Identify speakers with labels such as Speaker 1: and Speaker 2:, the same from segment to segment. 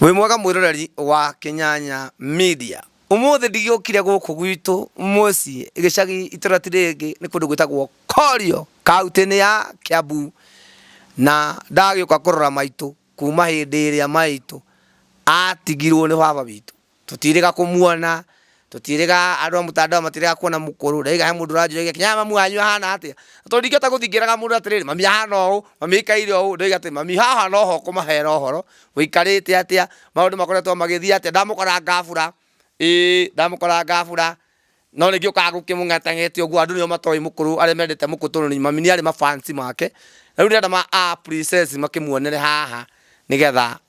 Speaker 1: Wĩ mwega mwĩroreri wa Kĩnyanya Media. Ũmũthĩ ndigĩũkire gũkũ gwitũ mũciĩ gĩcagi itũra ti rĩngĩ nĩ kũndũ gwĩtagwo Korio kauntĩ-inĩ ya Kiambu, na ndagĩũka kũrora maitũ kuma hĩndĩ ĩrĩa maitũ atigirwo nĩ baba witũ. Tũtiĩrĩga kũmuona, tũtiĩrĩga andũ a mũtandao matiĩrĩga kuona mũkũrũ. Ndaiga he mũndũ ũranjũria gĩakinya haha mami wanyu ahana atĩa. Na tondũ ndingĩhota gũthiĩ ngĩraga mũndũ atĩrĩrĩ, mami ahana ũũ, mami aikaire ũũ, ndoiga atĩ mami haha no ho kũmahera ũhoro, gũikarĩte atĩa, maũndũ makoretwo magĩthiĩ atĩa, ndamũkora ngabura, ĩĩ ndamũkora ngabura. No rĩngĩ ũkaga gũkĩmũng'etang'etia ũguo, andũ nĩo matoĩ mũkũrũ arĩa mendete mũkũrũ tondũ mami nĩarĩ ma fans make. Rĩu ndĩrenda ma a princess makĩmuonere haha nĩgetha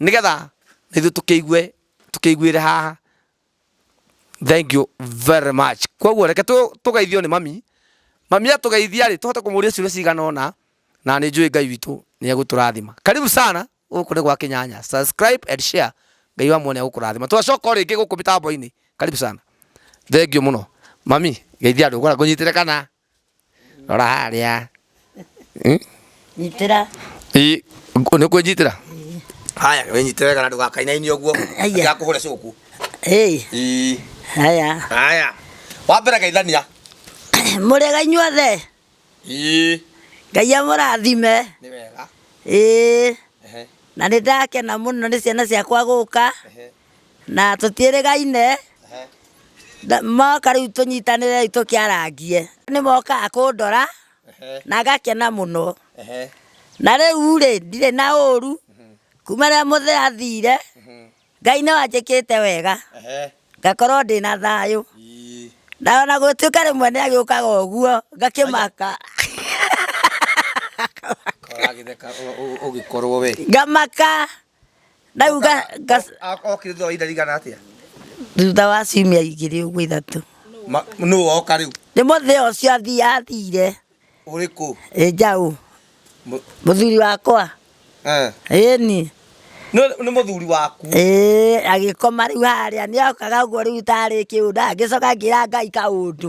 Speaker 1: nigetha nithu tukiigue tukiiguire haha thank you very much koguo reke tugeithio ni mami mami atugeithia ri tuhote kumuria ciuria cigana ona na ni njui ngai witũ ni egũtũrathima karibu sana gũkũ nĩ gwa kinyanya subscribe and share ngai wa muone egũkũrathima twacoka o rĩngĩ gũkũ mĩtambo-inĩ karibu sana thengiũ mũno mami geithia andũ ngũnyitĩre kana Rora harĩa. Nyitĩra.
Speaker 2: Ĩ,
Speaker 1: nĩ kwĩnyitĩra? Haya, wĩnyitĩre wega na ndũgakainaine ũguo. Haya. Ndakũhũre cũku. Hey. Ĩ. Haya. Haya. Wa mbere geithania. Mũrĩega
Speaker 2: inyuothe? Ĩ. Ngai amũrathime. Nĩ wega.
Speaker 1: Ĩ.
Speaker 2: Na nĩ ndakena mũno nĩ ciana ciakwa gũka. Ehe. na tũtiĩrĩgaine Na- moka rĩu tũnyitanĩre rĩu tũkĩarangie nĩ mokaga kũndora na ngakena mũno na rĩu rĩ ndirĩ na ũru kuma rĩrĩa mũthee athire ngai nĩ wanjĩkĩte wega ngakorwo ndĩ na thayũ na ona gũtuĩka rĩmwe nĩ agĩũkaga ũguo ngakĩmaka
Speaker 1: ũgĩkorwo we ngamaka
Speaker 2: ndauga ngas-
Speaker 1: okire thutha wa ihinda rigana atia thutha wa
Speaker 2: ciumia igĩrĩ ũguo ithatũ nũ woka
Speaker 1: rĩu nĩ mũthĩa ũcio
Speaker 2: athi- athire ũrĩkũ
Speaker 1: ĩ njaũ Mũ-
Speaker 2: mũthuri wakwa eh. ĩni Nĩ- nĩ
Speaker 1: mũthuri waku ĩĩ agĩkoma
Speaker 2: rĩu harĩa nĩ okaga ũguo rĩu tarĩ kĩũnda ngĩcoka ngĩra ngai kaũndũ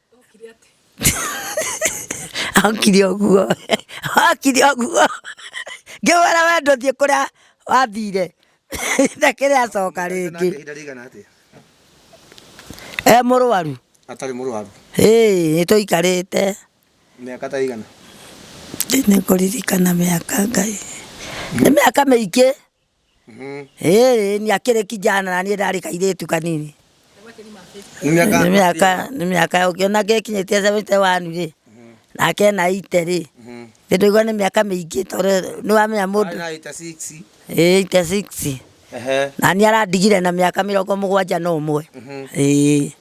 Speaker 2: Okire ũguo okire ũguo ngĩmwĩra we ndũthiĩ kũrĩa wathire na kĩrĩa acoka rĩngĩ e mũrwaru atarĩ mũrwaru
Speaker 1: nĩ
Speaker 2: tũikarĩte mĩaka ta
Speaker 1: igana nĩ
Speaker 2: kũririkana mĩaka ngai nĩ mĩaka mĩingĩ Ĩĩ, nĩ akĩrĩ kijana na niĩ ndarĩ kairĩtu kanini. Nĩ mĩaka Nĩ mĩaka nĩ mĩaka ũngĩona gĩkinyĩtie seventy one rĩ, nake ena eighty rĩ, nĩ ndũigua nĩ mĩaka mĩingĩ tondũ nĩ wamenya mũndũ Arĩ na eighty
Speaker 1: six. ĩĩ eighty six
Speaker 2: Ehe. na niĩ arandigire na mĩaka mĩrongo mũgwanja na ũmwe. Mhm. Ĩĩ.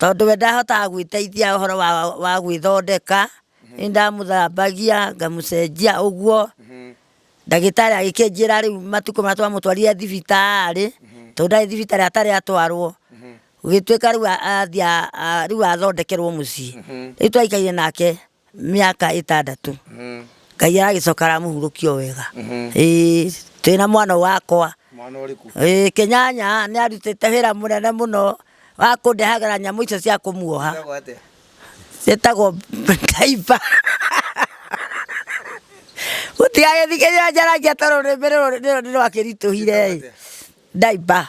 Speaker 2: Tondũ we ndahotaga gwĩteithia ũhoro wa, wa gwĩthondeka, nĩ ndamũthambagia ngamũcenjia ũguo ndagĩtarĩ agĩkĩnjĩra rĩu matukũ marĩa twamũtwarire thibitarĩ tondũ ndarĩ thibitarĩ atarĩ atwarwo gũgĩtuĩka rĩu a- athiĩ a- a- rĩu athondekerwo mũciĩ rĩu twaikaire nake mĩaka ĩtandatũ ngai aragĩcoka aramũhurũkia o wega Ĩĩ, twĩ na mwana wakwa mwana ũrĩkũ
Speaker 1: Ĩĩ, kĩnyanya nĩ
Speaker 2: arutĩte wĩra mũnene mũno wa kũndehagĩra nyamũ icio cia kũmuoha Etagwo atĩa? ciĩtagwo ndaiba gũtigagĩthikĩrĩria njaragia tondũ rũrĩmĩ rũrũ nĩ rwakĩritũhire ndaiba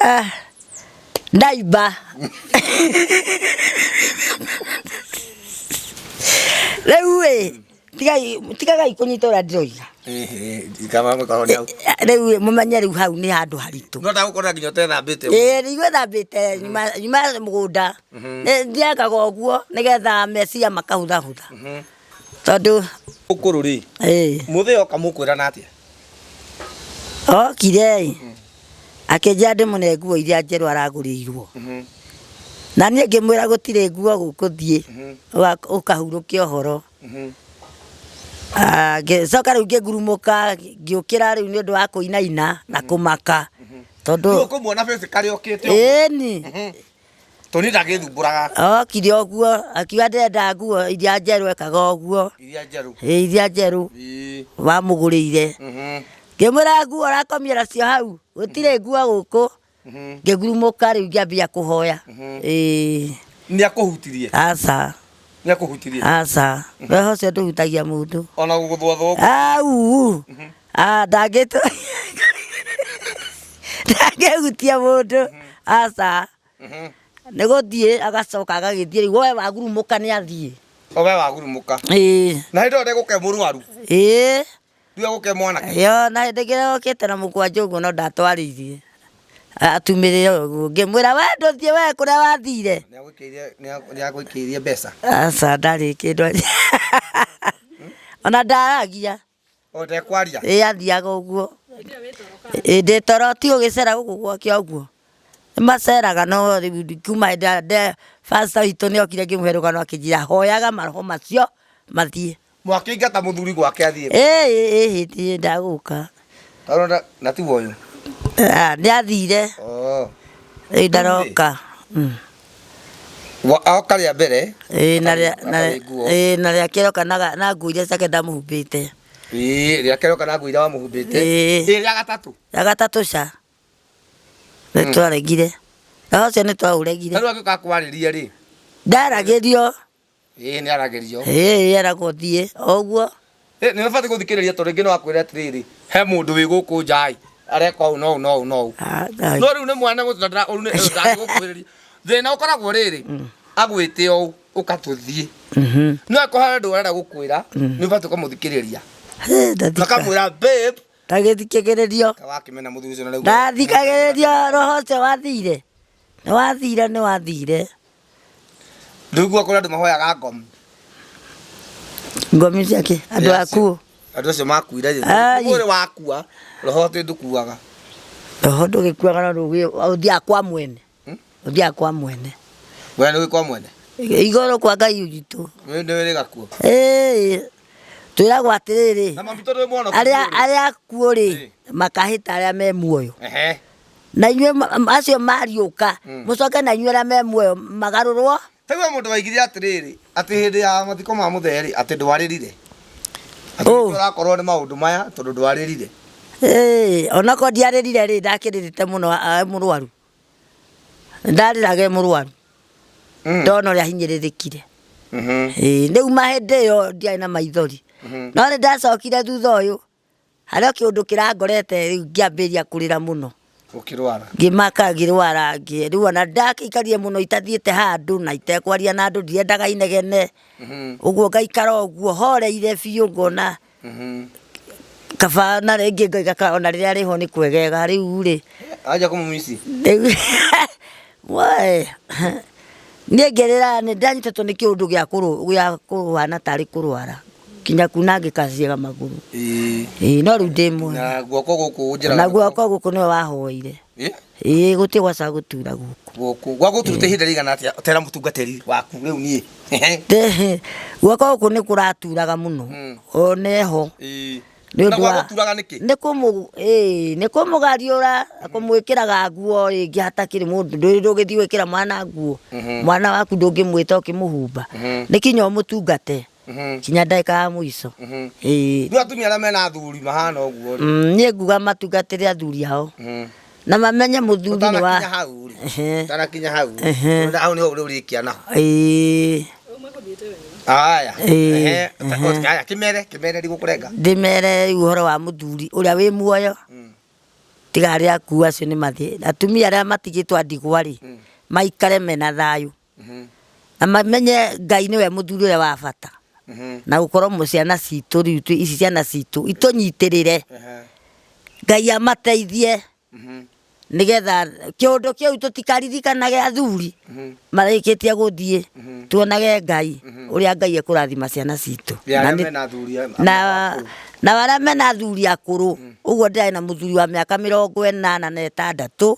Speaker 1: Ah,
Speaker 2: ndaiba rĩu ĩ tigai tigagai kũnyita ũrĩa ndĩroiga kama mũkorwo nĩ hau rĩu ĩ mũmenye rĩu hau nĩ handũ haritũ no ndagũkorwo nginya
Speaker 1: ũtethambĩte ĩĩ nĩguo thambĩte
Speaker 2: nyuma nyuma mũgũnda Nĩ- thiaga ũguo nĩgetha meciria makahũthahũtha tondũ ũkũrũ rĩ
Speaker 1: ĩĩ mũthee oka mũkwĩrana atĩa okire
Speaker 2: ĩ akĩnjĩra ndĩmũne nguo iria njerũ aragũrĩirwo na niĩ ngĩmwĩra gũtirĩ nguo gũkũthiĩ wa- ũkahurũke ũhoro Ah, ngĩcoka rĩu ngĩgurumũka ngĩũkĩra rĩu nĩ ũndũ wa kũinaina na kũmaka tondũ ũkũmuona bĩcĩkarĩ
Speaker 1: okĩte ũguo. ĩni
Speaker 2: Toni
Speaker 1: ndagĩthumbũraga. Okire ũguo
Speaker 2: akiuga ndenda nguo iria njerũ ekaga ũguo. Iria njerũ. Ĩ
Speaker 1: iria njerũ.
Speaker 2: Wamũgũrĩire. Ngĩmwĩra nguo ũrakomia nacio hau gũtirĩ nguo gũkũ. Ngĩgurumũka rĩu ngĩambia kũhoya. Nĩ akũhutirie?
Speaker 1: Aca.
Speaker 2: Nĩ akũhutirie?
Speaker 1: Aca.
Speaker 2: Roho ũcio ndũhutagia mũndũ. Ona gũgũthwathwa
Speaker 1: ũguo? Au. Ah, ndangĩtũ
Speaker 2: ndangĩhutia mũndũ aca nĩ gũthiĩ agacoka agagĩthiĩ rĩu woe wagurumũka nĩ athiĩ owe wagurumũka
Speaker 1: ĩĩ na hĩndĩ ĩyo ndegũke mũrwaru ĩĩ rĩu egũke mwanake yo na hĩndĩ ĩngĩ yokĩte
Speaker 2: na mũkwanjũ ũguo no ndatwarĩirie atumĩrĩre ũguo ngĩmwĩra we ndũthiĩ we kũrĩa wathire nĩagũikĩirie
Speaker 1: mbeca aca ndarĩ
Speaker 2: kĩndũ ona ndaragia ũtekwaria
Speaker 1: ĩ athiaga ũguo
Speaker 2: Ĩ, ndĩ toro ti ũgĩcera gũkũ gwakĩa ũguo nĩmaceraga no rĩu kuma hĩndĩ ĩrĩa nde bacita witũ nĩokire ngĩmũhe rũgano akĩnjĩra hoyaga maroho macio mathiĩ mwakĩingata mũthuri
Speaker 1: gwake athiĩ ĩ ĩ ĩ hĩndĩ ĩrĩa
Speaker 2: ndagũka Tondũ na-
Speaker 1: na tiguo ũyũ Ah, nĩathire
Speaker 2: Oh. rĩu ndaroka Mm. Wa-
Speaker 1: Oka rĩa mbere. Ĩĩ, na rĩa- na- Akarĩ
Speaker 2: nguo. ĩĩ, na rĩa kerĩ oka na ga- na nguo iria ciake ndamũhumbĩte Ĩĩ, rĩa
Speaker 1: kerĩ oka na nguo iria wamũhumbĩte. Ĩĩ. Ĩĩ, rĩa gatatũ. ya gatatũ ca
Speaker 2: nĩ twaregire na ũcio nĩ twaũregire Tarĩu angĩũka kwarĩria
Speaker 1: rĩ. ndaragĩrio
Speaker 2: ĩĩ nĩ
Speaker 1: aragĩrio ĩĩ eragwo
Speaker 2: thiĩ o ũguo Ĩ, nĩ ũbatiĩ
Speaker 1: gũthikĩrĩria tondũ rĩngĩ no akwĩre atĩrĩrĩ he mũndũ wĩ gũkũ nja ĩ areka ũũ na ũũ na ũũ na ũũ Ah, na- no rĩu nĩ mwana gũtũ na ndĩra- ũyũ nĩ- ũyũ ndangĩgũkuhĩrĩria thĩna ũkoragwo rĩrĩ agwĩte ũũ ũkatũthiĩ Mhm. no akorwo harĩ ũndũ arenda gũkwĩra nĩ ũbatiĩ ũkamũthikĩrĩria Hĩ, ndathika- makamwĩra babe ndagĩthikagĩrĩrio
Speaker 2: wakĩmena mũthuri ũcio na rĩu ndathikagĩrĩrio roho ũcio wathire Nĩwathire nĩwathire.
Speaker 1: Ndũigua kũrĩ andũ mahoyaga ngomi.
Speaker 2: Ngomi cia kĩ? Andũ akuũ. Andũ acio makuire
Speaker 1: rĩ. Ũrĩ wakua, roho atĩ ndũkuaga. Roho
Speaker 2: ndũgĩkuaga no ũthiaga kwa mwene. Hmm? Ũthiaga kwa mwene.
Speaker 1: Wee nĩũĩ kwa mwene? Igũrũ kwa Ngai
Speaker 2: witũ. Nĩũrĩ gakuo?
Speaker 1: Ĩĩ.
Speaker 2: Twĩragwo atĩrĩrĩ, Na mami tondå mwana arĩa arĩa akuũ rĩ Ĩ. makahĩta arĩa me muoyo Ehe. na inyuĩ ma- ma- acio mariũka Mm. mũcoke na inyuĩ arĩa me muoyo magarũrwo Ta rĩu he mũndũ waigire
Speaker 1: atĩrĩrĩ atĩ hĩndĩ ya mathiko ma mũtherĩ atĩ ndwarĩrire Atĩ Ũ. nĩkĩo ũrakorwo nĩ maũndũ maya tondũ ndwarĩrire Ĩĩ,
Speaker 2: onakorwo ndiarĩrire rĩ ndakĩrĩrĩte mũno a- mũrwaru ndarĩraga e mũrwaru ndona ũrĩa ahinyĩrĩrĩkire Ĩĩ, rĩu mahĩndĩ ĩyo ndiarĩ na maithori no nĩ ndacokire thutha ũyũ harĩ o kĩũndũ kĩrangorete rĩu ngĩambĩrĩria kũrĩra mũno ũkĩrwara ngĩmaka ngĩrwara ngĩ- rĩu ona ndakĩikarire mũno itathiĩte handũ na itekwaria na andũ ndiendaga inegene ũguo ngaikara ũguo horeire biũ ngona kaba na rĩngĩ ngoiga ka ona rĩrĩa rĩho nĩ kwegega rĩu rĩ aja kũmũmici
Speaker 1: rĩu- Wee,
Speaker 2: niĩ ngĩrĩra nĩ ndanyitĩtwo nĩ kĩũndũ gĩa kũrũ- gĩa kũhana tarĩ kũrwara kinya kunangĩka ciĩga magũrũ Ĩĩ, no rĩu ndĩ mwega na guoko gũkũ njĩra na guoko gũkũ nĩwe wahoire Ĩ? ĩĩ gũtirĩ gwaca gũtura gũkũ gũkũ gwagũturute ihinda rĩigana
Speaker 1: atĩa tera mũtungatĩri waku rĩu niĩ Tĩhĩ,
Speaker 2: gwaka gũkũ nĩ kũraturaga mũno Mm. o neho Ĩĩ. Nĩ na
Speaker 1: ũndũ wa- gwagũturaga nĩkĩ nĩ kũmũ- ĩĩ,
Speaker 2: nĩ kũmũgariũra na kũmwĩkĩraga nguo rĩngĩ hatakĩrĩ mũndũ ndũrĩ ndũgĩthiĩ gwĩkĩra mwana nguo Mhm. mwana waku ndũngĩmwĩta ũkĩmũhumba Mhm. nĩ kinya ũmũtungate Mhm. kinya ndagĩka ya mũico Mhm. Ĩĩ. Rĩu atumia
Speaker 1: arĩa mena athuri mahana ũguo rĩ. Mm, niĩ nguga
Speaker 2: matungatĩre athuri ao Mhm. na mamenye mũthuri nĩ Ũtanakinya wa hau rĩ. Ehe. Ũtanakinya
Speaker 1: hau rĩ. Ehe. Tondũ Hau nĩho ũrĩkia naho. Ĩĩ, Haya. Ĩĩ. Ehe. Ehe. Haya kĩmere kĩmere ndigũkũrenga. ndĩmere rĩu ũhoro
Speaker 2: wa mũthuri ũrĩa wĩ muoyo Mm. tiga arĩa akuu acio nĩ mathĩ atumia arĩa matigĩtwo a ndigwa rĩ maikare mena thayũ na mamenye ngai nĩwe mũthuri ũrĩa wa bata na gũkorwo mũ- ciana citũ rĩu twĩ- ici ciana citũ itũnyitĩrĩre ngai amateithie nigetha kiundu kiu tutikaririkanage athuri marĩkĩtie gũthiĩ tuonage ngai ũrĩa ngai ekũrathima ciana citũ Ya Na arĩa nĩ- mena athuri a- na akũrũ. na arĩa mena athuri akũrũ ũguo ndĩrarĩ na mũthuri wa mĩaka mĩrongo ĩnana na ĩtandatũ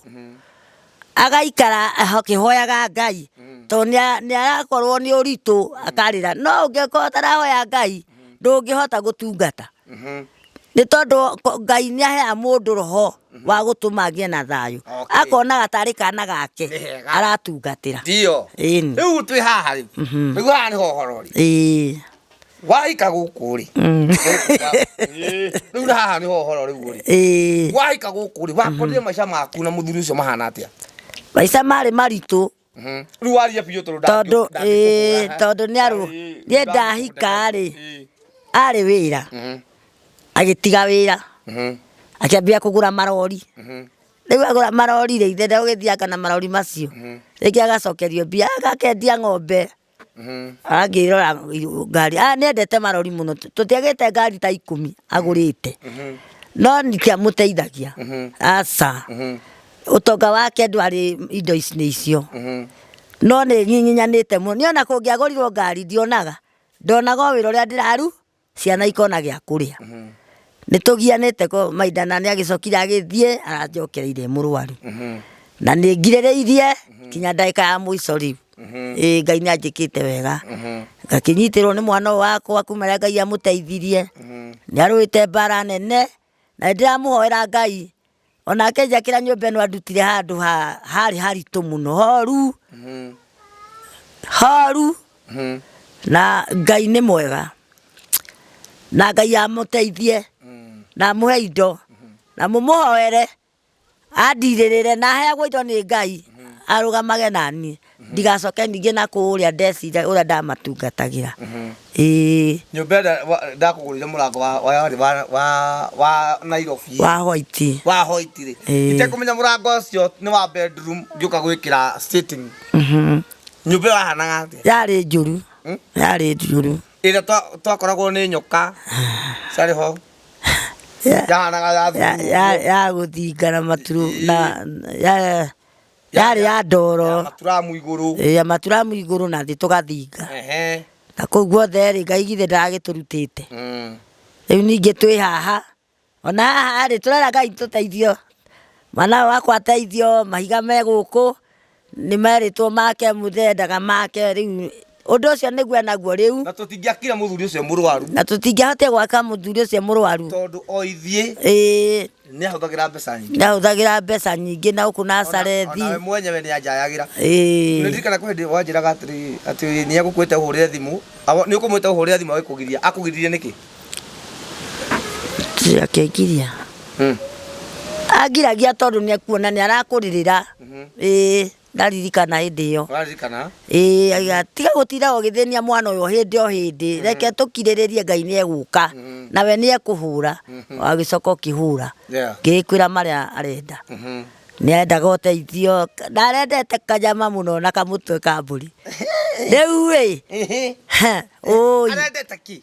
Speaker 2: agaikara akihoyaga ngai mm. to ni arakorwo ni uritu mm. akarira no ungikorwo tarahoya ngai mm. ndungihota gutungata mm-hmm. ni tondu ngai ni ahea mundu roho mm-hmm. wa gutuma ngie na thayu akonaga tari kana gake aratungatira ndio
Speaker 1: riu twi haha riu riu mm-hmm. haha ni hohorori waika gũkũ rĩ rĩu na haha nĩho ũhoro rĩu ũrĩ Ĩĩ, waika gũkũ rĩ wakorire maica maku na mũthuri ũcio mahana atĩa maica marĩ
Speaker 2: maritũ Mhm. rĩu waria
Speaker 1: biũ tondũ ndangĩ- tondũ ndangĩkũhũra, ĩĩ,
Speaker 2: ha? tondũ nĩ arũ Ĩĩ, niĩ ndahika rĩ Ĩĩ. arĩ wĩra Mhm. agĩtiga wĩra Mhm. akĩambia kũgũra marori Mhm. rĩu agũra marori rĩ ithe ndagũgĩthianga na marori macio rĩngĩ agacokerio mbia agakendia ng'ombe arangĩrora ngari ah nendete marori muno tutiagite ngari ta ikumi agurite no ndikiamuteithagia aca utonga wake ndwari indo ici nĩ icio no nĩ nyinyanĩte muno niona kũngĩagorirwo ngari ndionaga ndonaga o wĩra ũrĩa ndĩraru ciana ikona gĩa kũrĩa nĩ tũgianĩte ko maida na nĩ agĩcokire agĩthiĩ aranjokereire mũrwaru na nĩ ngirĩrĩirie kinya ndagĩka ya mũico rĩu ĩ ngai nĩ anjĩkĩte wega ngakĩnyitĩrwo nĩ mwana ũyũ wakwa kuma rĩa ngai amũteithirie nĩ arũĩte mbara nene na nĩndĩramũhoera ngai onake njakĩra nyũmba ĩno andutire handũ ha- harĩ haritũ mũno horu Mhm. horu Mhm. na ngai nĩ mwega na ngai amũteithie Mm. na amũhe indo na mũmũhoere andirĩrĩre na aheagwo indo nĩ ngai arũgamage naniĩ ndigacoke ningĩ na kũũrĩa ndecire ũrĩa ndamatungatagira ĩĩ
Speaker 1: nyũmba ĩrĩa wa- ndakũgũrĩire mũrango wa- wa- warĩ wa- wa- wa nairobi wa hoiti wa
Speaker 2: hoiti rĩ
Speaker 1: Ĩĩ. itekũmenya mũrango ũcio nĩ wa bedroom ngĩũka gwĩkĩra sitting Mhm. nyũmba ĩyo yahanaga atĩa yarĩ njũru Hmm?
Speaker 2: yarĩ njũru ĩrĩa twa-
Speaker 1: twakoragwo nĩ nyoka ciarĩ ho Ya- yahanaga ya ya- thumu
Speaker 2: ya- ya gũthinga na maturu na ya- yarĩ ya ndoro maturamu igũrũ ya maturamu igũrũ na thĩ tũgathinga Ehe. na kũu guothe rĩ ngai githĩ ndagĩtũrutĩte Mm. rĩu ningĩ twĩ haha ona haha rĩ tũrera ngai tũteithio mwana wakwa ateithio mahiga me gũkũ nĩ merĩtwo make mũthee ndaga make rĩu ũndũ ũcio nĩguo enaguo rĩu na tũtingĩakire mũthuri
Speaker 1: ũcio mũrwaru na tũtingĩahotire
Speaker 2: gwaka mũthuri ũcio mũrwaru tondũ o ithiĩ
Speaker 1: ĩĩ nĩ ahũthagĩra mbeca nyingĩ ndahũthagĩra mbeca nyingĩ na gũkũ na carethi nawe mwenyewe nĩ anjayagĩra ĩĩ ndirikana kwĩ hĩndĩ wanjĩraga atĩrĩ atĩ nĩ egũkwĩte ũhũrĩre thimũ nĩ ũkũmwĩte ũhũrĩre thimũ agĩkũgiria akũgiririe nĩkĩ
Speaker 2: akĩngiria angiragia tondũ nĩ akuona nĩ arakũrĩrĩra ĩĩ ndaririkana hĩndĩ ĩyo Ũraririkana? ĩĩ aiga tiga gũtinda ũgĩthĩnia mwana ũyũ hĩndĩ o hĩndĩ reke tũkirĩrĩrie ngai nĩ egũka na we nĩ ekũhũra agĩcoka ũkĩhũra Yeah. ngĩkwĩra marĩa arenda Mhm. nĩ arendaga ũteithio ndarendete kanyama mũno na kamũtwe ka mbũri rĩu ĩ Ehe. ũi
Speaker 1: Arendete ki.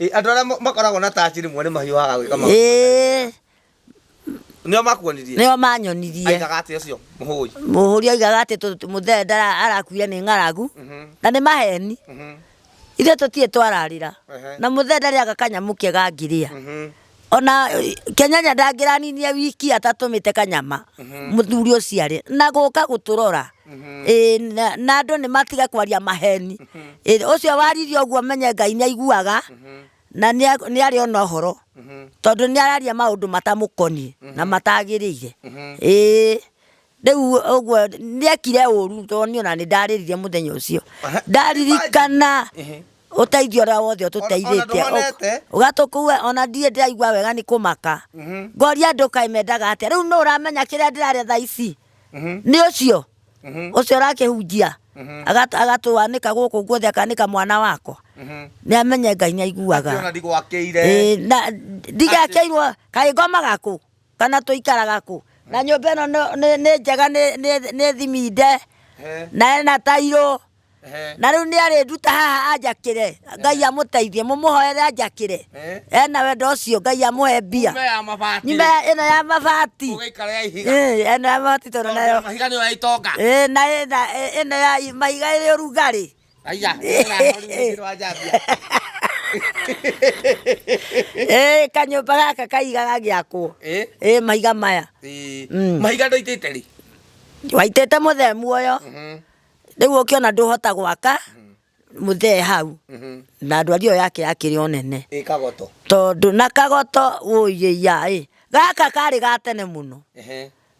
Speaker 2: Ĩ, andå arä
Speaker 1: a makoragwo na taci rä mwe nä mahiå haga gwä ka maå ĩĩ nä o makuonirie nĩo manyonirie
Speaker 2: aigaga atä å cio må
Speaker 1: hå i mũhũri aigaga atĩ tũ-
Speaker 2: tũ- mũthee ndara- arakuire nĩ ng'aragu na nĩ maheni ithuĩ tũtirĩ twararĩra Ehe. na mũthee ndarĩaga kanyamũ kega ngĩrĩa ona kenyanya ndangĩraninie wiki atatũmĩte kanyama mhm. mũthuri ũciarĩ na gũka gũtũrora mhm. na andũ nĩ matige kwaria maheni mhm. ũcio waririe ũguo menye ngai nĩ aiguaga na nä arä ona å horo mhm. tondå nä araria maå ndå matamå koniä na mhm. matagä rä ire mhm. rĩu ũguo nĩekire ũru tondũ niĩ ona nĩndarĩrire mũthenya ũcio ndaririkana ũteithio ũrĩa wothe ũtũteithĩtie ũgatũkua ona ndirĩ ndĩraigua wega nĩ kũmaka ngoria andũ kaĩ mendaga atĩa rĩu nũ ũramenya kĩrĩa ndĩrarĩa thaa ici nĩ ũcio ũcio ũrakĩhunjia agat- agatwanĩka gũkũ guothe akanĩka mwana wakwa nĩamenye ngai nĩaiguaga
Speaker 1: Ĩĩ, na
Speaker 2: ndigekeirwo kaĩ ngomaga kũ kana tũikaraga kũ na nyũmba ĩno nĩ- nĩ nĩ njega nĩ- nĩ nĩ thiminde Eh, na ena tairũ eh, na rĩu nĩ arĩnduta haha anjakĩre ngai amũteithie mũmũhoere anjakĩre Eh. ena wendo ũcio ngai amũhe mbia nyũmba ya mabati nyuma ya- ĩno ya mabati ũgĩikara ya ihiga Eh, ĩno ya mabati tondũ nayo mahiga nĩyo ya itonga
Speaker 1: Eh, na ĩna-
Speaker 2: ĩ- ĩno ya mahiga ĩrĩ ũrugarĩ kanyũmba gaka kaiga gagĩakwo mahiga maya mm. mahiga
Speaker 1: ndoitĩte rĩ waitĩte
Speaker 2: mũthee muoyo mhm. rĩu ũkĩona ndũhota gwaka mhm. mũthee hau mhm. na ndwari ĩyo yake yakĩrĩ o nene tondũ
Speaker 1: na
Speaker 2: kagoto ũiĩia ĩ gaka karĩ gatene mũno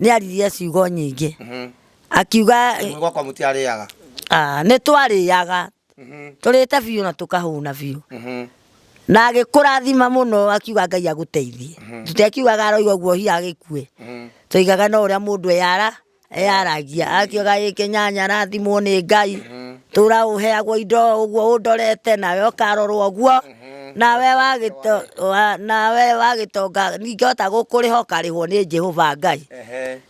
Speaker 2: nĩ aririe ciugo nyingĩ Mhm. akiuga Nĩ gwakwa mũtiarĩaga
Speaker 1: ah, nĩ
Speaker 2: twarĩaga Mhm. tũrĩte biũ na tũkahũna biũ Mhm. na agĩkũrathima mũno akiuga ngai agũteithie tũtekiugaga aroiga guo hiya agĩkue Mhm. tũigaga no ũrĩa mũndũ eyara eyaragia akiuga gĩkĩ nyanya arathimwo nĩ ngai tũra ũheagwo indo ũguo ũndorete nawe ũkarorwo ũguo nawe wagĩtonga ingĩhota gũkũrĩha ũkarĩhwo nĩ jehova ngai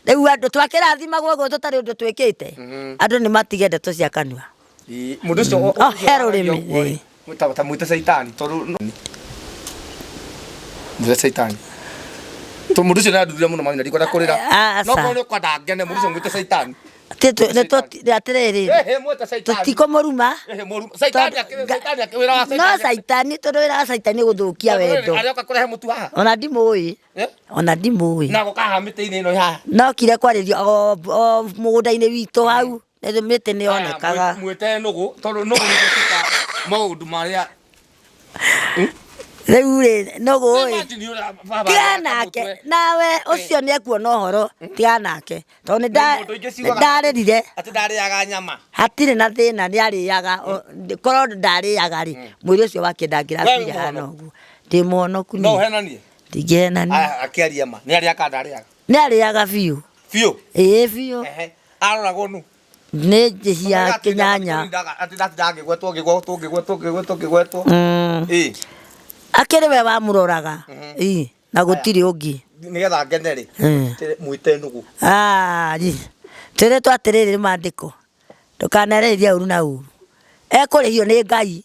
Speaker 2: rĩu andũ twakĩrathimagwo ũguo tũtarĩ ũndũ twĩkĩte andũ nĩ matige ndeto cia kanua må ndå å
Speaker 1: cio Oh, he rũrĩmĩ,
Speaker 2: ĩĩ. tamwä te
Speaker 1: caitani tondå må te caitani tondå må ndå å cio nä andurire må no mami na ndikwenda kå rä ra Aca. nokorwo nä å kwenda ngene må ndå å cio mwä te caitani atĩrĩrĩ
Speaker 2: tũtikũmũruma no caitani tondũ wĩra wa caitani nĩ gũthũkia wendo ona ndimũĩ eh? ona ndimũĩ nokire kwarĩrio mũgũnda-inĩ witũ hau mĩtĩ nĩ yonekaga
Speaker 1: maũndũ marĩa
Speaker 2: rĩu rĩ nũgũ ĩ Imagine you are- baba tiga areka nake mũtwe. nawe ũcio nĩ ekuona ũhoro tiga nake tondũ nĩ nda- Mũndũ ingĩ nĩ ciugaga- ndarĩrire atĩ ndarĩaga
Speaker 1: nyama hatirĩ na thĩna
Speaker 2: nĩ arĩaga korwo ndarĩaga rĩ mwĩrĩ ũcio wake ndangĩrakuire Wee hana ũguo ndĩ mũhonoku no niĩ ũhenanie
Speaker 1: ndingĩhenania Aya,
Speaker 2: akĩaria ma nĩ
Speaker 1: arĩaga ndarĩaga nĩ arĩaga biũ
Speaker 2: biũ ĩĩ biũ Ehe. aroragwo
Speaker 1: nu nĩ njĩhia
Speaker 2: kĩnyanya Atĩ ndatindaga
Speaker 1: ngĩgwetwo ngĩgwetwo ngĩgwetwo ngĩgwetwo ngĩgwetwo. Mm. Ĩ.
Speaker 2: akĩrĩ we wamũroraga Ĩ, na gũtirĩ ũngĩ Nĩgetha ngene rĩ.
Speaker 1: Mm. tĩ- Mwĩte nũgũ. Ah, ri.
Speaker 2: twĩrĩtwo atĩrĩrĩ nĩ mandĩko ndũkanereithie ũru na ũru ekũrĩhio nĩ ngai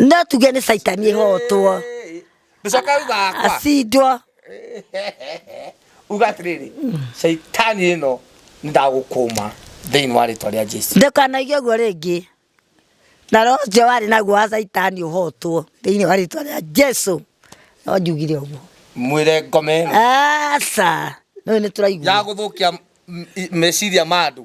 Speaker 1: no
Speaker 2: tuge nĩ caitani ĩhotwo ndũcoka
Speaker 1: uga akwa acindwo
Speaker 2: uga
Speaker 1: atĩrĩrĩ caitani ĩno nĩ ndagũkũma thĩinĩ wa rĩtwa rĩa jesu ndũkanaige ũguo rĩngĩ
Speaker 2: na roho ũcio warĩ naguo wa caitani ũhotwo thĩinĩ wa rĩtwa rĩa jesu no njugire ũguo mwĩre ngome
Speaker 1: ĩno aca
Speaker 2: nĩũĩ nĩ ya tũraigua gũthũkia
Speaker 1: m- i- meciria ma andũ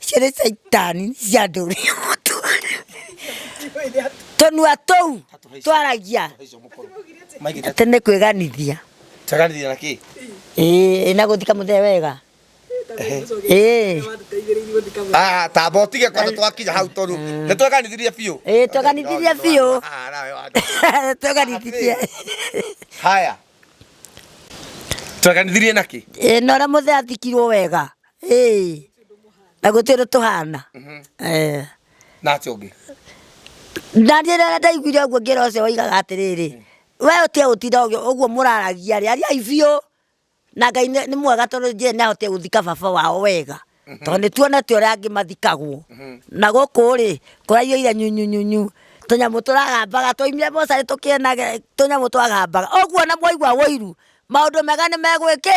Speaker 2: ciothe caitani ciandũrire mũtu tũnua tũu twaragia atĩ nĩ kwĩganithia taganithia na
Speaker 1: kĩ ĩĩ na
Speaker 2: gũthika mũthee wega ĩĩ
Speaker 1: Ah, tamba ũtige kwanza twakinya hau tondũ nĩ tweganithirie biũ ĩĩ tweganithirie biũ
Speaker 2: Ah, nawe wa- tweganithirie haya
Speaker 1: tweganithirie na kĩ ĩĩ na ũrĩa mũthee athikirwo
Speaker 2: wega Ĩĩ. Na gũtirĩ ũndũ tũhana. Eh.
Speaker 1: Na acio ũngĩ. Na
Speaker 2: niĩ rĩrĩa ndaiguire ũguo ngĩra ũcio waigaga atĩrĩrĩ, we ũtige gũtinda ũgĩ- ũguo mũraragia rĩ, ariai biũ. Na Ngai nĩ nĩ mwega tondũ nĩnjũĩ nĩahotire gũthika baba wao wega. Tondũ nĩtuonete ũrĩa angĩ mathikagwo. Na gũkũ rĩ, kũraiyũire nyunyunyunyu. Tũnyamũ tũragambaga twaumire mocarĩ tũkĩenage tũnyamũ twagambaga. Ũguo ona mwaigua ũiru, maũndũ mega nĩmegwĩkĩ?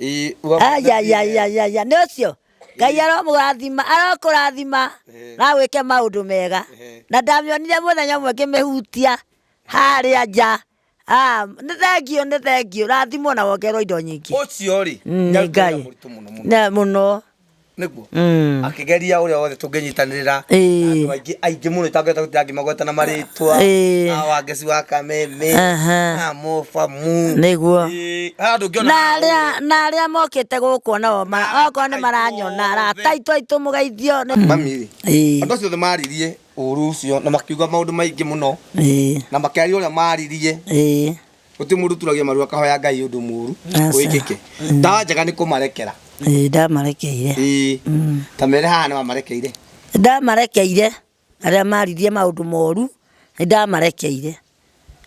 Speaker 2: Ĩĩ, wa- ayayayayaya nĩ ũcio ngai aromũrathima arokũrathima Eh. na gwĩke maũndũ mega Eh. na ndamĩonire mũthenya ũmwe ngĩmĩhutia harĩa nja Ah, nĩ thengiũ nĩ thengiũ rathimwo na wongerwo indo nyingĩ ũcio rĩ Mm, nĩ
Speaker 1: nyarutĩra Ngai. mũritũ
Speaker 2: mũno mũno Na mũno nĩguo
Speaker 1: Mm. akĩgeria ũrĩa wothe tũngĩnyitanĩrĩra na Ĩĩ. andũ aingĩ aingĩ mũno itangĩhota gũtira ngĩmagweta na marĩtwa Ĩĩ. na wangeci wa kameme Aha. na mobamu Nĩguo. Ĩĩ,
Speaker 2: haha ndũngĩona na
Speaker 1: haũ. arĩa na arĩa mokĩte
Speaker 2: gũkũ nao ma- okorwo nĩ maranyona arata aitũ aitũ mũgeithio nĩ- mami rĩ Ĩĩ.
Speaker 1: andũ acio othe maririe ũru ũcio na makiuga maũndũ maingĩ mũno Ĩĩ, na makĩaria ũrĩa maririe ĩĩ. Gũtirĩ mũndũ ũturagia maru akahoya Ngai ũndũ mũru Aca. wĩkĩke. Ndawa njega nĩ kũmarekera. Ĩĩ, ndamarekeire
Speaker 2: Ĩĩ. Ta
Speaker 1: mere haha nĩ wamarekeire. Nĩ ndamarekeire
Speaker 2: arĩa maririe maũndũ moru nĩ ndamarekeire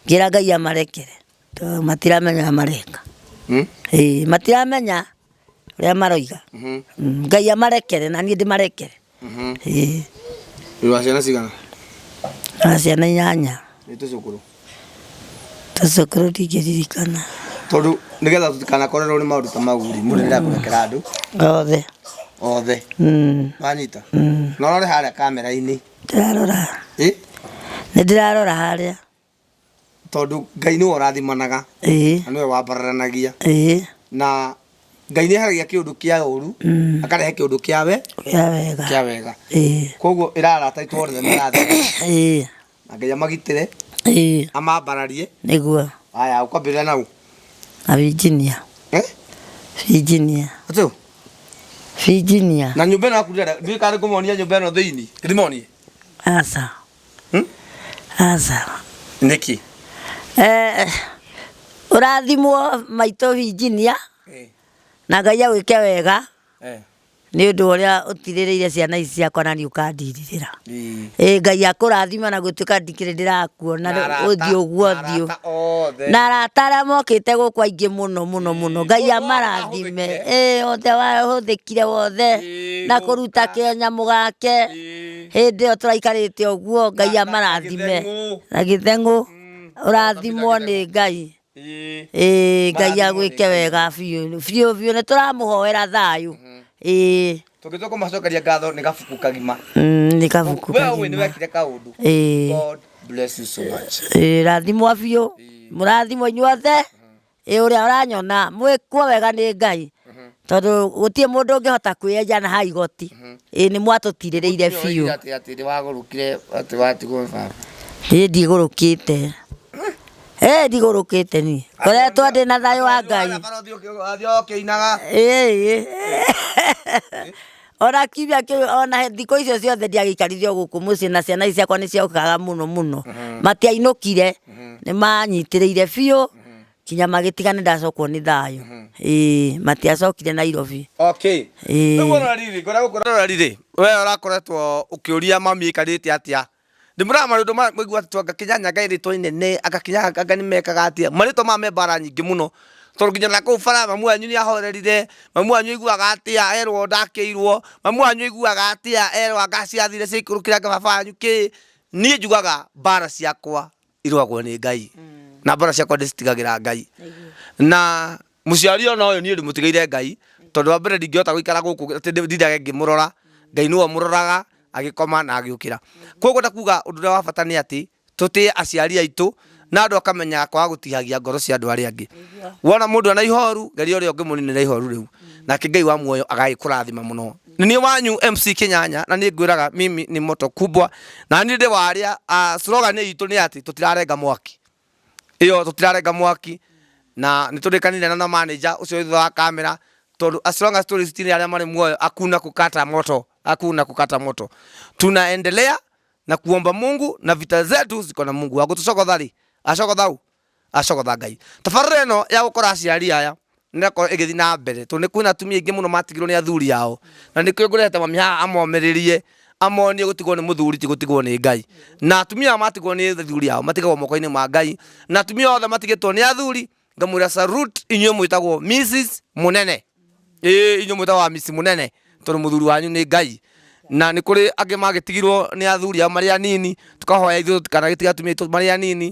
Speaker 2: ngĩra ngai amarekere tondũ matiramenya ũrĩa mareka Hmm? Ĩĩ, matiramenya ũrĩa maroiga Mhm. Mm, ngai amarekere na niĩ ndĩmarekere Ĩĩ. Wĩ
Speaker 1: wa ciana cigana? Na
Speaker 2: ciana inyanya. Nĩ tũcũkũrũ. Tũcũkũrũ ndingĩririkana. Tondũ
Speaker 1: nĩgetha tũtikanakorerwo nĩ maũndũ ta mau rĩ, mũndũ nĩendaga kũrekera andũ Othe. othe. Mm. Wanyita? Na ũrore harĩa kamera-inĩ.
Speaker 2: Ndĩrarora.
Speaker 1: Ĩ?
Speaker 2: Nĩndĩrarora
Speaker 1: harĩa. tondũ Ngai nĩwe ũrathimanaga na nĩwe wambararanagia na Ngai nĩ eheragia kĩũndũ kĩa ũru akarehe kĩũndũ kĩa wega, kwoguo ĩra arata aitũ othe marathime na Ngai amagitĩre amambararie. Haya
Speaker 2: ũkwambĩrĩria na
Speaker 1: ũũ? Na Virginia.
Speaker 2: Virginia.
Speaker 1: Atĩa? Virginia.
Speaker 2: Na nyũmba ĩno yaku
Speaker 1: ndiũĩ kana nĩ ngũmonia nyũmba ĩno thĩinĩ? Ndĩmonie? Aca.
Speaker 2: aca
Speaker 1: nĩkĩ Eh,
Speaker 2: ũrathimwo maitũ injinia Eh, na ngai agwĩke wega eh, nĩ ũndũ wa ũrĩa ũtirĩrĩire ciana ici ciakwa na niĩ ũkandirirĩra ii. ĩ ngai akũrathima na gũtuĩka ndikĩrĩ ndĩrakuona Na arata- ũthiũ na guothiũ arata othe. na arata arĩa mokĩte gũkũ aingĩ mũno mũno mũno ngai Othe amarathime mahũthĩkire. ĩ othe wahũthĩkire wothe Ĩĩ, na kũruta gũka. kĩanyamũ gake Ĩĩ. hĩndĩ ĩyo tũraikarĩte ũguo ngai Na- na- amarathime Gĩtheng'ũ. na gĩtheng'ũ ũrathimwo nĩ ngai Ĩĩ. Ĩĩ, ngai Marathimwo nĩ agwĩke Ngai. wega biũ biũ biũ nĩ tũramũhoera thayũ Ĩĩ,
Speaker 1: tũngĩtua kũmacokeria ngatho nĩ gabuku kagima mm, nĩ kabuku
Speaker 2: we ũĩ nĩ kagima. wekire kaũndũ
Speaker 1: Ĩĩ. god bless you so much Ĩĩ, rathimwo biũ
Speaker 2: mũrathimwo inyuothe Ĩ ũrĩa ũranyona mwĩkwo wega nĩ Ngai tondũ gũtirĩ mũndũ ũngĩhota kwĩyenja na ha igoti ĩ nĩ mwatũtirĩrĩire biũ Atĩ atĩ nĩ wagũrũkire
Speaker 1: atĩ watigwo nĩ baba. ĩ
Speaker 2: ndigũrũkĩte ĩ ndigũrũkĩte niĩ ngoretwo ndĩ na thayũ wa Ngai Athiĩ ũkĩinaga. ĩ ĩ Ona kiumia kĩu ona he- thikũ icio ciothe ndiagĩikarithio gũkũ mũciĩ na ciana ici ciakwa nĩ ciaũkaga mũno mũno matiainũkire nĩ manyitĩrĩire biũ kinya magĩtiga nĩ ndacokwo nĩ thayũ ĩĩ matiacokire nairobi okay Ĩĩ. rĩu ũrorariri ngona gũkũ
Speaker 1: ũrorariri we ũrakoretwo ũkĩũria mami ĩkarĩte atĩa Nĩ mũrona marĩtwa maya mũiguaga atĩ tondũ anga Kenya Nyange nĩ rĩtwa inene, anga Kenya Nyange nĩ mekaga atĩa, marĩtwa maya me mbara nyingĩ mũno. Tondũ nginya ona kũu bara mamu wanyu nĩ ahorerire, mamu wanyu aiguaga atĩa erwo ndakĩirwo, mamu wanyu aiguaga atĩa erwo anga ciathire ciaikũrũkĩra anga baba wanyu kĩĩ. Niĩ njugaga mbara ciakwa. irwagwo nĩ ngai na mbara ciakwa ndĩcitigagĩra ngai na mũciari ona ũyũ niĩ ndĩmũtigaire ngai tondũ wa mbere ndingĩhota gũikara gũkũ atĩ ndĩ- ndindage ngĩmũrora ngai nĩwe mũroraga agĩkoma na agĩũkĩra koguo ndakuga ũndũ ũrĩa wa bata nĩ atĩ tũtĩe aciari aitũ na andũ akamenyaga kwaga gũtihagia ngoro cia andũ arĩa angĩ wona mũndũ ena ihoru geria ũrĩa ũngĩmũninĩra ihoru rĩu nake ngai wa muoyo agagĩkũrathima mũno nĩ niĩ wanyu MC Kinyanya na niĩ ngwĩraga mimi ni moto kubwa na niĩ ndĩ warĩa ah, slogan itũ nĩ atĩ tũtirarenga mwaki iyo tũtirarenga mwaki na nĩ tũrĩkanire na na manager ũcio wĩ thutha wa kamera tondũ as long as tũrĩ citini arĩa marĩ muoyo akuna kukata moto akuna kukata moto tunaendelea na kuomba Mungu na vita zetu ziko na Mungu agũtũcogotha rĩ acogothau Acogotha Ngai. Tabarĩra ĩno ya gũkora aciari aya nĩrakorwo ĩgĩthiĩ na mbere tondũ nĩ kwĩna atumia aingĩ mũno matigirwo nĩ athuri ao na nĩkĩo ngũrehete mami haha amomĩrĩrie amonie gũtigwo nĩ mũthuri ti gũtigwo nĩ Ngai na atumia aya matigwo nĩ athuri ao matigagwo moko-inĩ ma Ngai na atumia othe matigĩtwo nĩ athuri ngamwĩra salute inyuĩ mwĩtagwo Mrs Mũnene. ĩĩ inyuĩ mwĩtagwo amisi mũnene tondũ mũthuri wanyu nĩ ngai na nĩ kũrĩ angĩ magĩtigirwo nĩ athuri ao marĩ anini tũkahoya ithuĩ tũtikanagĩtige atumia aitũ marĩ anini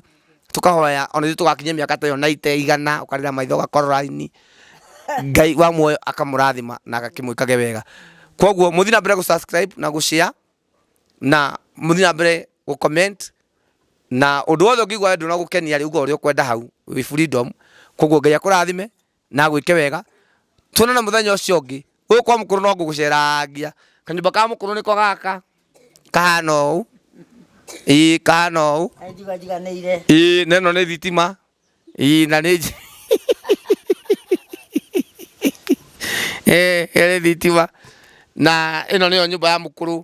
Speaker 1: tũkahoya ona ithuĩ tũgakinyia mĩaka ta ĩyo na ite igana ũkarĩra maitho ũgakora raini ngai wa muoyo akamũrathima na agakĩmwĩkage wega koguo mũthiĩ na mbere gũ subscribe na gũ share na mũthiĩ na mbere gũ comment na ũndũ wothe ũngĩigua wendwo na gũkenia rĩ uga ũrĩa ũkwenda hau wĩ freedom koguo ngai akũrathime na agwĩke wega, tuonane mũthenya ũcio ũngĩ. Gũkũ kwa mũkũrũ no ngũgũcerangia. Kanyũmba ka mũkũrũ nĩko gaka, kahana ũũ, ĩĩ kahana ũũ, Kaĩ njuga njiganĩire. ĩĩ na ĩno nĩ thitima, ĩĩ na nĩ nji- Ĩĩ, ĩyo nĩ thitima, na ĩno nĩyo nyũmba ya mũkũrũ.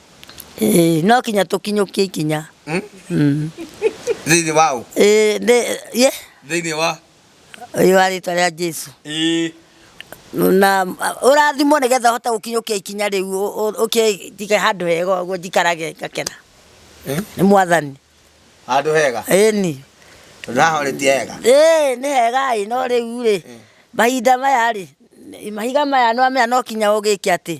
Speaker 1: Ĩĩ,
Speaker 2: no kinya tũkinyũkie ikinya Hmm? Mm. thĩinĩ
Speaker 1: wa ũ Ĩĩ, ndĩ- ye thĩinĩ wa ũyũ wa rĩtwa
Speaker 2: rĩa jesu Ĩĩ. na a- ũrathimwo nĩ getha ũhote gũkinyũkia ikinya rĩu ũ- ũ- ũkĩ- njige handũ hega ũguo njikarage ngakena Eh? nĩ mwathani handũ hega
Speaker 1: ĩni
Speaker 2: naho rĩti hega ĩĩ nĩ hega ĩ no
Speaker 1: rĩu
Speaker 2: rĩ mahinda
Speaker 1: maya
Speaker 2: rĩ mahiga maya nĩwamenya no kinya ũgĩke atĩ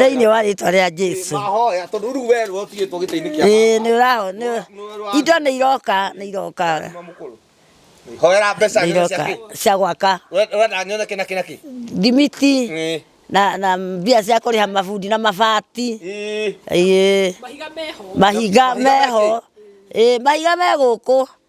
Speaker 2: thĩinĩ wa rĩtwa rĩa jesu ĩĩ nĩ ũraho nĩ- indo nĩ iroka nĩ iroka hoera
Speaker 1: mbeca nĩ iroka cia gwaka
Speaker 2: wenda nyone kĩna kĩna kĩ thimiti na na mbia cia kũrĩha mabundi na mabati ĩĩ mahiga meho ĩĩ mahiga me gũkũ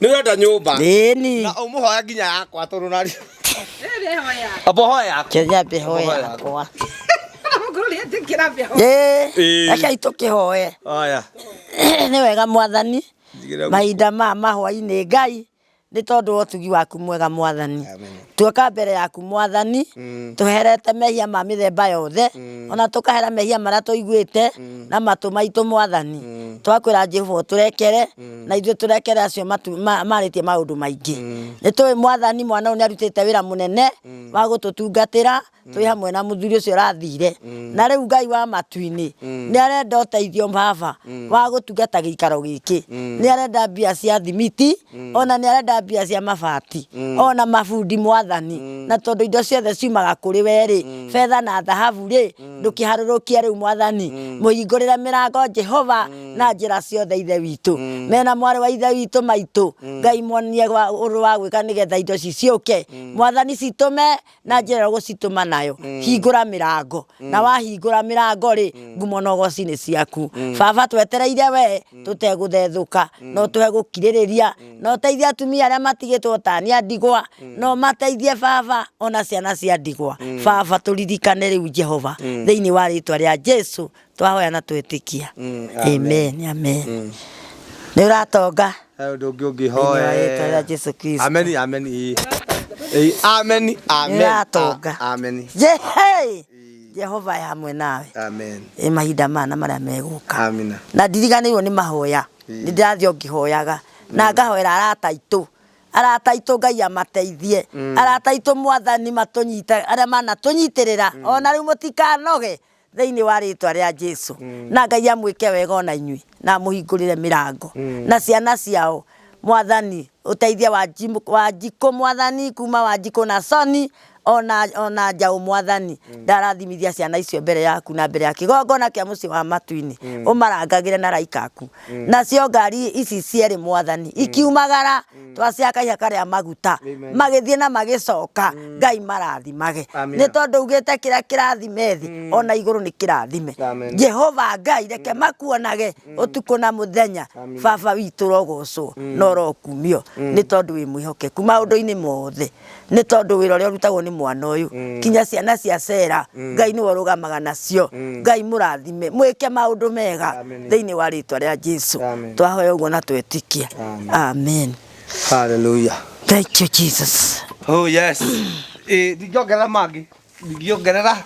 Speaker 2: Nĩ
Speaker 1: ũrenda nyũmba? Ĩni. Na ũmũhoya nginya
Speaker 2: yakwa
Speaker 1: tondũ na Abo hoya yakwa. Kenya be hoya
Speaker 2: yakwa. Reke itũkĩhoe. Oya. Nĩ wega mwathani. Mahinda ma mahwa-inĩ Ngai nĩ tondũ wa ũtugi waku mwega mwathani. Tuoka mbere yaku mwathani, tũherete mehia ma mĩthemba yothe, ona tũkahera mehia marĩa tũiguĩte na matũ maitũ mwathani. Twakwĩra Jehova ũtũrekere, na ithuĩ tũrekere acio matu- ma- marĩtie maũndũ maingĩ. Nĩtũĩ mwathani mwana ũyũ nĩarutĩte wĩra mũnene wa gũtũtungatĩra, twĩ hamwe na mũthuri ũcio ũrathire na rĩu ngai wa matu-inĩ nĩ arenda ũteithio baba wa gũtungata gĩikaro gĩkĩ nĩ arenda mbia cia thimiti ona nĩ arenda mbia cia mabati ona mabundi mwathani na tondũ indo ciothe ciumaga kũrĩ we rĩ betha na thahabu rĩ ndũkĩharũrũkie rĩu mwathani mũhingũrĩre mĩrango jehova na njĩra ciothe ithe witũ mena mwarĩ wa ithe witũ maitũ ngai muonie wa- ũndũ wa gwĩka nĩgetha indo ici ciũke mwathani citũme na njĩra ĩrĩa ũgũcitũma nayo mm. hingũra mĩrango mm. na wahingũra mĩrango rĩ mm. ngumo na ũgocinĩ ciaku mm. baba twetereire we mm. tũtegũthethũka mm. no tũhe gũkirĩrĩria mm. no teithia atumia arĩa matigĩtwo tania ndigwa mm. no mateithie baba ona ciana cia ndigwa mm. baba tũririkane rĩu jehova mm. thĩinĩ wa rĩtwa rĩa jesu twahoya na twĩtĩkia Mm, amen amen nĩ ũratonga He ũndũ ũngĩ thĩinĩ
Speaker 1: wa rĩĩtwa rĩa ũngĩhoe jesu kristo
Speaker 2: ameni ameni ii.
Speaker 1: Ii, ameni Nĩ ameni ũratonga a- ameni Je- hey!
Speaker 2: jehova e hamwe nawe amen ĩ mahinda
Speaker 1: mana marĩa
Speaker 2: megũka amina na ndiriganĩirwo
Speaker 1: nĩ
Speaker 2: mahoya nĩ ndĩrathiĩ o ngĩhoyaga na ngahoera arata aitũ arata aitũ ngai amateithie arata aitũ mwathani matũnyite arĩa manatũnyitĩrĩra ona rĩu mũtikanoge thĩinĩ wa rĩĩtwa rĩa Jesu. Na Ngai amwĩke wega ona inyuĩ na amũhingũrĩre mĩrango na ciana ciao mwathani ũteithia wa wanjikũ mwathani kuma wanjikũ na soni ona ona njaũ mwathani ndarathimithia ciana icio mbere yaku na mbere ya kĩgongona kĩa mũciĩ wa matuinĩ ũmarangagĩre na raikaku nacio ngari ici cierĩ mwathani ikiumagara Mm. twacia kaiha karĩa maguta Amen. magĩthiĩ na magĩcoka ngai marathimage Amina. nĩ tondũ ugĩte kĩrĩa kĩrathime thĩ ona igũrũ nĩ kĩrathime Amen. jehova ngai reke makuonage ũtukũ na mũthenya Amina. baba witũ rogocwo na ũrokumio nĩ tondũ wĩ mwĩhokeku maũndũ-inĩ mothe nĩ tondũ wĩra ũrĩa ũrutagwo nĩ mwana ũyũ mm. kinya ciana cia cera mm. ngai nĩwe ũrũgamaga nacio mm. ngai mũrathime mwĩke maũndũ mega thĩinĩ wa rĩtwa rĩa jesu twahoya ũguo na twetikia amen haleluya
Speaker 1: thank you
Speaker 2: jesus oh yes
Speaker 1: eh ndingiongerera mangĩ ndingiongerera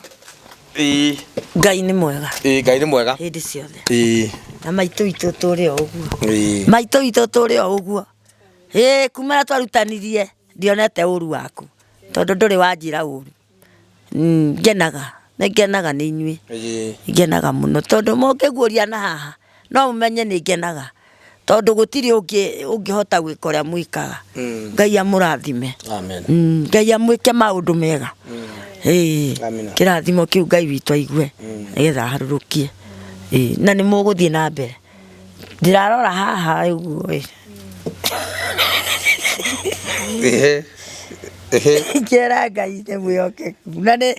Speaker 1: eh
Speaker 2: ngai nĩ mwega eh ngai nĩ mwega hĩndĩ
Speaker 1: ciothe eh
Speaker 2: na maitũ itũ tũrĩ o ũguo maitũ itũ tũrĩ o ũguo ĩĩ kumana twarutanirie ndionete ũru waku tondũ ndũrĩ wanjĩra ũru Mm, ngenaga nĩ ngenaga nĩ inyuĩ Ĩĩ. ngenaga mũno tondũ mũngĩguũria na haha no mũmenye nĩ ngenaga tondũ gũtirĩ ũngĩ ũngĩhota gwĩka ũrĩa mwĩkaga Mm. ngai amũrathime Amen. Mm, ngai amwĩke maũndũ mega Ĩĩ, Amina. kĩrathimo kĩu ngai witũ aigue nĩgetha aharũrũkie Ĩĩ, na nĩ mũgũthiĩ na mbere Ndĩrarora haha ũguo ĩ. Ehe. Ehe. Ngĩra Ngai nĩ mwĩhokeku. Na nĩ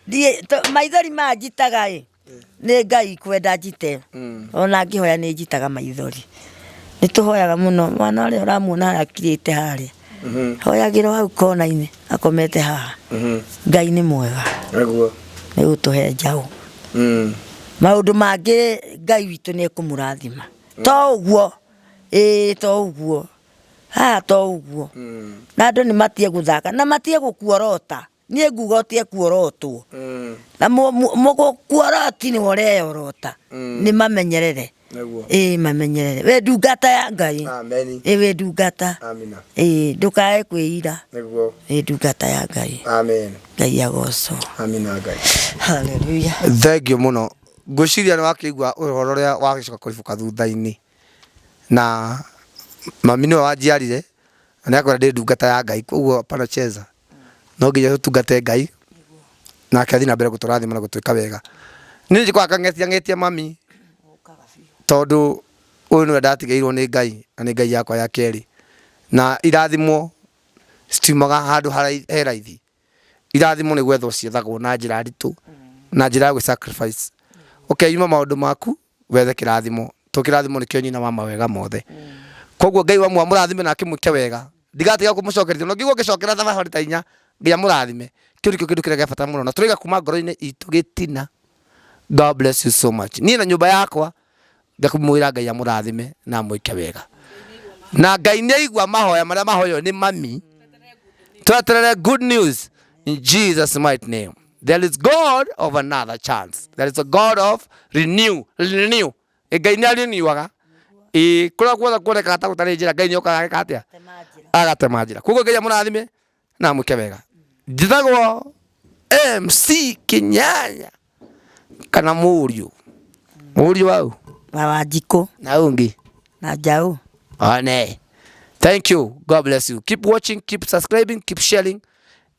Speaker 2: ndiĩ to- maithori maya njitaga ĩ nĩ Ngai kwenda njite. Ona ngĩhoya nĩ njitaga maithori. Nĩ tũhoyaga mũno mwana ũrĩa ũramuona harĩa akirĩte harĩa. oyagĩrwo hau kona-inĩ akomete haha ngai nĩ mwega Naguo. nĩ gũtũhe njaũ Mm. maũndũ mangĩ ngai witũ nĩ ekũmũrathima to ũguo ĩĩ to ũguo haha to ũguo na andũ nĩ matige gũthaka na matige gũkuorota Niĩ nguga ũtĩa kuorotwo na mũ- mũ- mũgũ- kuoroti nĩ ũreyorota nĩ mamenyerere Nĩguo. ĩĩ mamenyerere wĩ ndungata ya ngai Ameni. ĩĩ wĩ ndungata Amina. ĩĩ ndũkae kwĩira Nĩguo. wĩ ndungata ya ngai Amen. ngai agocwo Amina Ngai. haleluya Thengiũ
Speaker 1: mũno. Ngwĩciria nĩ wakĩigua ũhoro ũrĩa wagĩcoka kũribũka thutha-inĩ. Na mami nĩwe wanjiarire na nĩ akwĩra ndĩ ndungata ya Ngai. Koguo panacheza. no nginya tũtungate ngai nake athiĩ na mbere gũtũrathima na gũtwĩka wega niĩ njĩkwaga kang'etia ng'etia mami tondũ ũyũ nĩwe ndatigĩirwo nĩ ngai na nĩ ngai yakwa ya kerĩ na irathimo citiumaga handũ harai- he raithi irathimo nĩ gwethwo ciethagwo na njĩra nditũ na njĩra ya gwĩ sacrifice ũkeyuma maũndũ maku wethe kĩrathimo to kĩrathimo nĩkĩo nyina wa mawega mothe koguo ngai wamwe amũrathime na akĩmwĩke wega ndigatiga kũmũcokeria no ngigwo ngĩcokera thabarĩ ta inya ngai amũrathime kĩu nĩkĩo kĩndũ kĩrĩa gĩa bata mũno na tũraiga kuma ngoro-inĩ itũ gĩtina god bless you so much niĩ na nyũmba yakwa ngakumwĩra ngai amũrathime na amwĩke wega na ngai nĩ aigua mahoya marĩa mahoyo nĩ mami tweterere good news in jesus might name there is god of another chance there is a god of renew renew Ĩ, ngai nĩ arĩniuaga ĩ kũrĩa guothe kuonekaga ta gũtarĩ njĩra ngai nĩ okaga ageka atĩa agatema njĩra koguo ngai amũrathime na amwĩke wega njĩtagwo mc kinyanya kana mũriũ mũriũ wau na wanjikũ
Speaker 2: na ũyũ ũngĩ
Speaker 1: na njaũ
Speaker 2: one
Speaker 1: thank you god bless you keep watching keep subscribing keep sharing